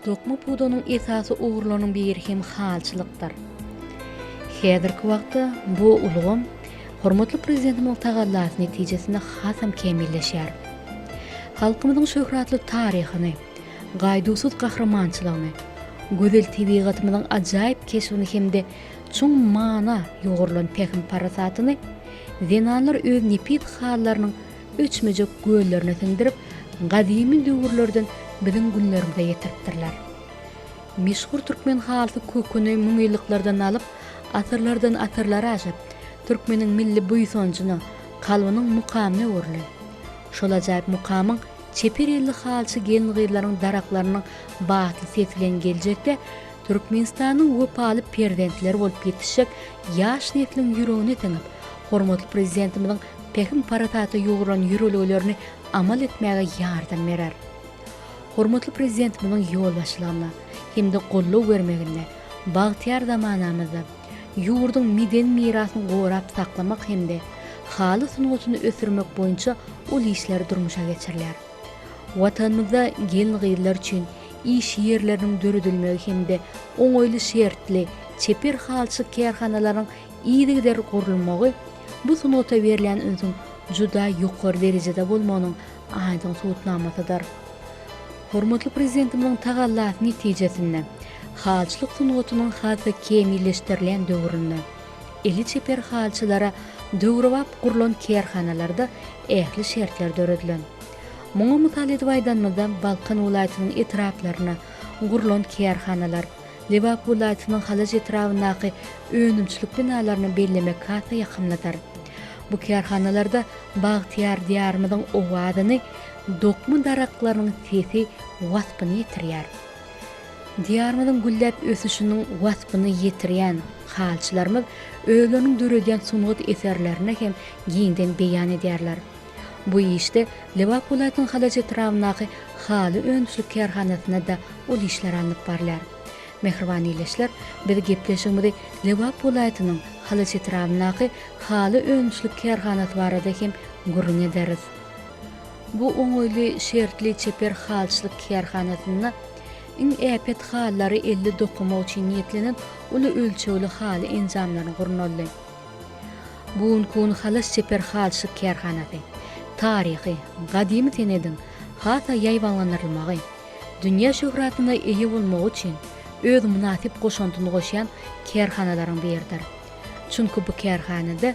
Dokma pudanyň esasy ugurlarynyň biri hem halçylykdyr. Häzirki wagtda bu ulgam hormatly Prezidentimiziň tagallasy netijesinde hasam kämilleşýär. Halkymyzyň şöhratly taryhyny, gaýduwsyz gahrymançylygyny, gözel tebigatymyzyň ajaýyp keşbini hem-de çuň mana ýugrulan pähim-parasatyny zenanlar öz nepis hallarynyň öçmejek göllerine siňdirip, gadymy döwürlerden biziň günlerimize ýetiripdirler. Meşhur türkmen halysy köküni müňýyllyklardan alyp, asyrlardan-asyrlara aşyp, türkmeniň milli buýsanjyna, kalbynyň mukamyna öwrülen. Şol ajaýyp mukamyň çeper elli halçy gelin-gyzlaryň daraklarynyň batly sesi bilen geljekde Türkmenistanyň wepaly perzentleri bolup ýetişjek ýaş nesliň ýüregine siňip, hormatly Prezidentimiziň pähim-parasata ýugrulan ýörelgelerini amal etmäge ýardam berer. Hormatly Prezidentimiziň ýolbaşçylygynda hem-de goldaw bermeginde bagtyýar zamanamyzda ýurduň medeni mirasyny gorap saklamak hem-de haly sungatyny ösdürmek boýunça uly işler durmuşa geçirilýär. Watanymyzda gelin-gyzlar üçin iş ýerleriniň döredilmegi hem-de oňaýly şertli, çeper halçy kärhanalaryň yzygider gurulmagy bu sungata berlen ünsüň juda ýokary derejede bolmagynyň aýdyň subutnamasydyr. Hormatly Prezidentimiziň tagallasy netijesinde, halçylyk sungatynyň has-da kämilleşdirilen döwründe, Eli çeper halçylara döwrebap gurlan kärhanalarda ähli şertler döredilen. Muňa mysal edip aýdanymyzda Balkan welaýatynyň etraplaryna gurlan kärhanalar, Lebap welaýatynyň Halaç etrabyndaky önümçilik binalaryny bellemek has-da ýakymlydyr. Bu kärhanalarda bagtyýar Diýarymyzyň owazyny dokma daraklarynyň sesi waspyny ýetirýär. Diýarymyzyň gülläp ösüşiniň waspyny ýetirýän halçylarymyz özleriniň döredýän sungat eserlerini hem giňden beýan edýärler. Bu işde Lebap welaýatynyň Halaç etrabyndaky haly önümçilik kärhanasynda-da ol işler alnyp barylýar. Mähriban ildeşler, biz gepleşigimizi Lebap welaýatynyň Halaç etrabyndaky haly önümçilik kärhanasy barada hem gürrüň ederis. Bu oňaýly şertli çeper halçylyk kärhanasynda iň äpet halylary elde dokamak üçin niýetlenen uly ölçegli haly enjamlaryny gurnaldy. Gunkun halas çeper halçylyk kärhanasy, taryhy, gadymy senediň has-a ýaýbaňlandyrylmagy, dünýä şöhratyna eýe bolmagy üçin öz mynasyp goşantyny goşýan kärhanalaryň biridir. Çünki bu kärhanada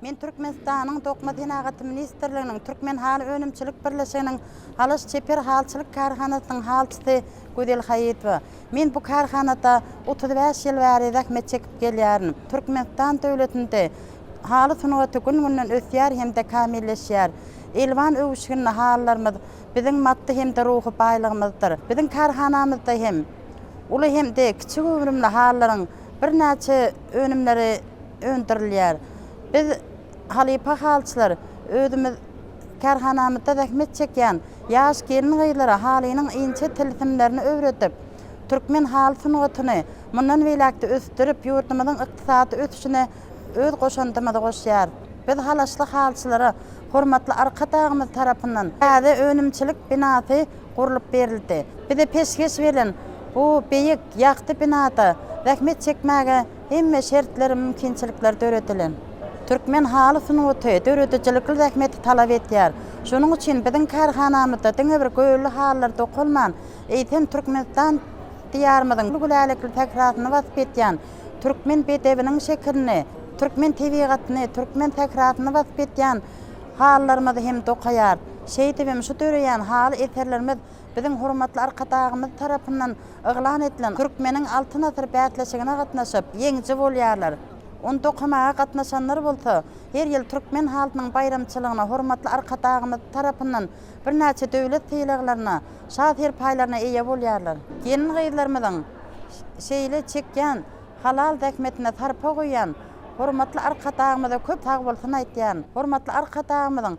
Men Türkmenistanyň Dokma senagaty ministrliginiň Türkmen haly önümçilik birleşiginiň Halaç çeper halçylyk kärhanasynyň halçysy Gözel Haýytowa. Men bu kärhanada otuz bäş ýyl bäri zähmet çekip gelýärin. Türkmenistan döwletinde haly sungaty gün-günden ösýär hem-de kämilleşýär. Elwan öwüşginli halylarymyz biziň maddy hem-de ruhy baýlygymyzdyr. Biziň kärhanamyzda hem uly hem-de kiçi göwrümli halylaryň birnäçe önümleri öndürilýär. Biz, halypa halyçylar, özümiz kärhanamyzda zähmet çekýän ýaş gelin-gyzlara halynyň inçe tilsimlerini öwredip, türkmen haly sungatyny mundan beýläk-de ösdürip, ýurdumyzyň ykdysady ösüşine öz goşandymyzy goşýarys. Biz halaşly halyçylara hormatly Arkadagymyz tarapyndan täze önümçilik binasy gurlup berildi. Bize peşgeş berlen bu beýik, ýagty binada zähmet çekmäge Hemme şertler, mümkinçilikler döredilen. Türkmen haly sungaty döredijilikli zähmeti talap edýär. Şonuň üçin biziň kärhanamyzda diňe bir gölli halylar dokalman, eýsem Türkmenistan Diýarymyzyň gülälekli sährasyny wasp edýän, türkmen bedewiniň şekilini, türkmen tebigatyny, türkmen sährasyny wasp edýän halylarymyzy hem dokaýarys. Şeýdibem şu döreýän haly eserlerimiz Biziň hormatly Arkadagymyz tarapyndan yglan edilen Türkmeniň Altyn asyry bäsleşigine gatnaşyp, ýeňiji bolýarlar. Ony dokamaga gatnaşanlar bolsa, her ýyl türkmen halysynyň baýramçylygyna hormatly Arkadagymyz tarapyndan birnäçe döwlet sylaglaryna, şa serpaýlaryna eýe bolýarlar. Gelin-gyzlarymyzyň şeýle çekýän halal zähmetine sarpa goýýan hormatly Arkadagymyza köp sagbolsun aýtýan. Hormatly Arkadagymyzyň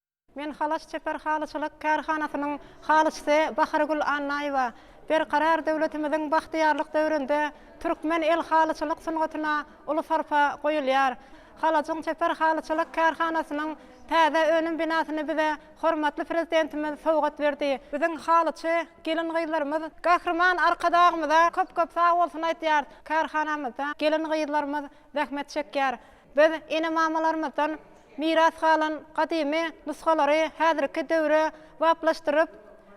Men Halaç çeper halyçylyk kärhanasynyň halyçysy Bahargül Annaýewa. Berkarar döwletimiziň bagtyýarlyk döwründe türkmen el halyçylyk sungatyna uly sarpa goýulýar. Halajyň çeper halyçylyk kärhanasynyň täze önüm binasyny bize hormatly Prezidentimiz sowgat berdi. Biziň halyçy gelin-gyzlarymyz Gahryman Arkadagymyza köp-köp sag bolsun aýdýarys. Kärhanamyzda gelin-gyzlarymyz zähmet çekýär. Biz ene-mamalarymyzdan miras galan gadymy nusgalary häzirki döwre baplaşdyryp,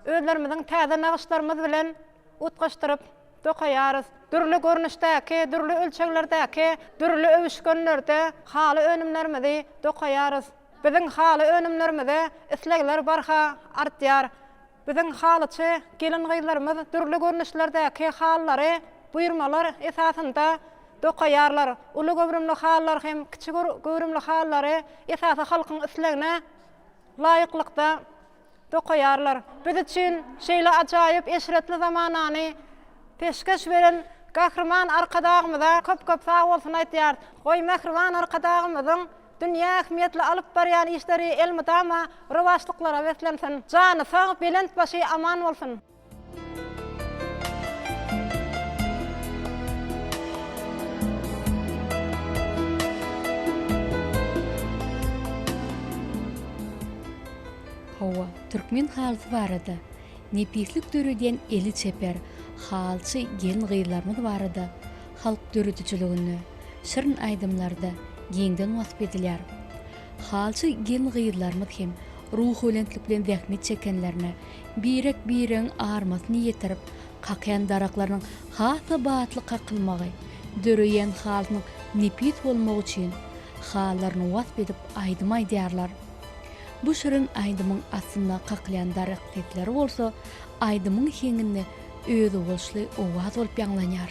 özlerimiziň täze nagyşlarymyz bilen utgaşdyryp dokaýarys. Dürli görnüşdäki, dürli ölçeglerdäki, dürli öwüşginlerde haly önümlerimizi dokaýarys. Biziň haly önümlerimize islegler barha artýar. Biziň halyçy gelin-gyzlarymyz dürli görnüşlerdäki halylary buýurmalar esasynda dokaýarlar. Uly göwrümli halylar hem kiçi göwrümli halylary esasy halkyň islegine laýyklykda dokaýarlar. Biz üçin şeýle ajaýyp eşretli zamanany peşgeş beren Gahryman Arkadagymyza köp-köp sag bolsun aýdýarys. Goý, mähriban Arkadagymyzyň Dünýä ähmiýetli alyp barýan işleri elmydama rowaçlyklara beslensin. Jany sag, belent başy aman bolsun. Hawa, türkmen halysy barada, nepislik döredýän eli çeper halçy gelin-gyzlarymyz barada halk döredijiliginde, şirin aýdymlarda giňden wasp edilýär. Halçy gelin-gyzlarymyz hem ruhubelentlik bilen zähmet çekenlerine, birek-biregiň armasyny ýetirip, kakýan daraklarynyň has-da batly kakylmagy, döreýän halynyň nepis bolmagy üçin, hallaryny wasp edip aýdym aýdýarlar. Bu şirin aýdymyň astynda kakylýan darak sesleri bolsa aýdymyň heňinde özboluşly owaz bolup ýaňlanýar.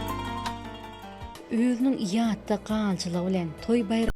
Özüniň ýatda galyjylygy bilen toý-baýram.